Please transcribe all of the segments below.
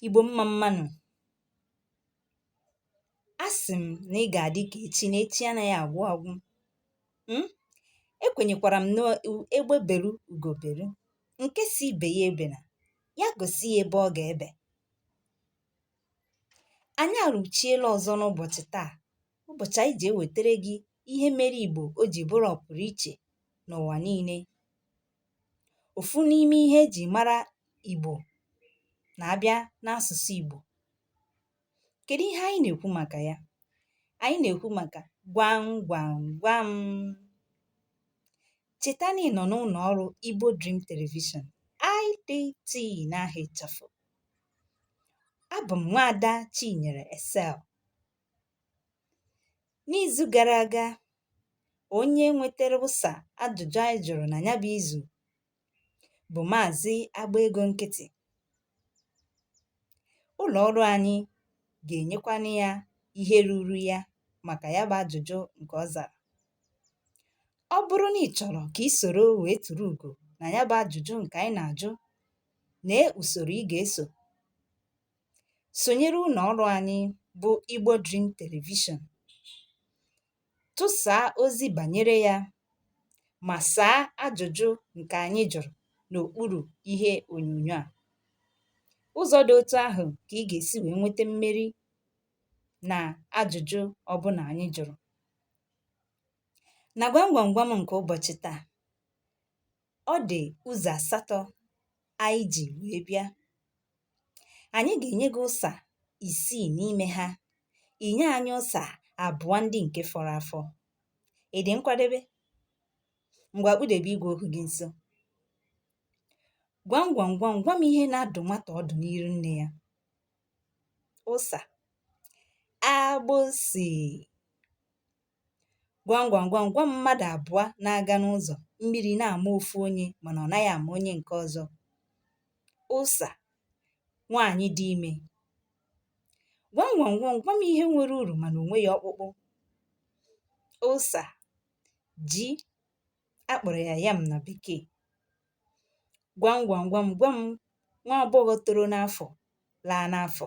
Igbo mma mmanụ a sị m na ị ga-adị ka echi na echi anaghị agwụ agwụ um ekwenyekwara m na egbe beru ugo beru nke sị ibe ya ebena ya gosi ya ebe ọ ga-ebe anyị arụchiela ọzọ n'ụbọchị taa ụbọchị anyị ji ewetara gị ihe mere Igbo o ji bụrụ ọpụrụ iche n'ụwa niile òfu n'ime ihe e jì mara ìgbò nà-abịa n'asụ̀sụ ìgbò kèdu ihe anyị nà-èkwu màkà ya anyị nà-èkwu màkà gwam gwam gwam chèta nà ị nọ̀ n'ụlọ̀ ọrụ igbo dream television IDT n'aha ịchafụ abụ m nwaada chinyere Excel N'izu gara aga, onye nwetara ụsa ajụjụ anyị jụrụ na ya bụ izu bụ Maazị Agba Ego Nkịtị. Ụlọ ọrụ anyị ga-enyekwanụ ya ihe ruru ya maka ya bụ ajụjụ nke ọ zara. Ọ bụrụ na ị chọrọ ka ị soro wee turu ugo na ya bụ ajụjụ nke anyị na-ajụ, lee usoro ị ga-eso. sonyere ụlọ ọrụ anyị bụ Igbo Dream Television. Tụsaa ozi banyere ya ma saa ajụjụ nke anyị jụrụ n'okpuru ihe onyonyo a. Ụzọ dị otu ahụ ka ị ga-esi wee nweta mmeri na ajụjụ ọbụla anyị jụrụ. Na gwam gwam gwam nke ụbọchị taa, ọ dị ụzọ asatọ anyị ji wee bịa anyị ga-enye gị ụsa isii n'ime ha i nye anyị ụsa abụọ ndị nke fọrọ afọ ị dị nkwadebe ngwa kpudebe igwe okwu gị nso gwam gwam gwam gwa m ihe na-adụ nwata ọdụ n'iru nne ya ụsa agbụsị gwam gwam gwam gwa m mmadụ abụọ na-aga n'ụzọ mmiri na-ama ofu onye mana ọ naghị ama onye nke ọzọ ụsa nwaanyị dị ime gwam gwam gwam gwa m ihe nwere uru mana o nweghị ọkpụkpụ ụsa ji a kpọrọ ya yam na bekee gwam gwam gwam gwa m nwa agbọghọ toro n'afọ laa n'afọ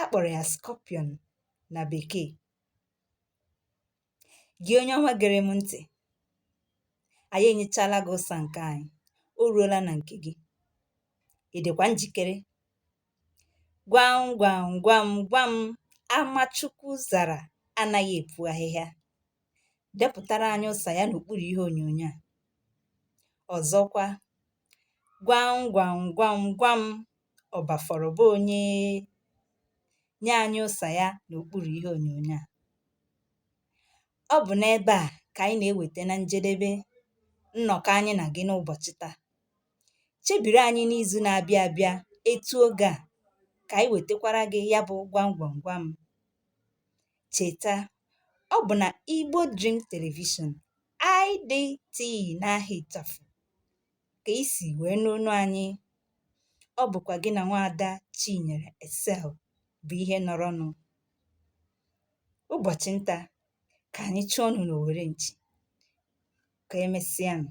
a kpọrọ ya scorpion na bekee gị onye ọma gere m ntị anyị enyechala gị ụsa nke anyị o ruola na nke gị ị dịkwa njikere gwam gwam gwam gwa m ama Chukwu zara anaghị epu ahịhịa depụtara anyị ụsa ya n'okpuru ihe onyonyo a ọzọkwa gwam gwam gwam gwam ọ bafọrọ be onye nye anyị ụsa ya n'okpuru ihe onyonyo a ọ bụ n'ebe a ka anyị na-eweta na njedebe nnọkọ anyị na gị n'ụbọchị taa chebiri anyị n'izu na-abịa abịa etu oge a ka anyị wetakwara gị ya bụ gwam gwam gwam Cheta, ọ bụ na Igbo Dream Television, IDT n'aha ịchafụ ka i si wee nụ onu anyị. Ọ bụkwa gị na nwaada Chinyere Excel bụ ihe nọrọnụ. Ụbọchị nta ka anyị chụọnụ n'owere nchi. Ka emesịanụ.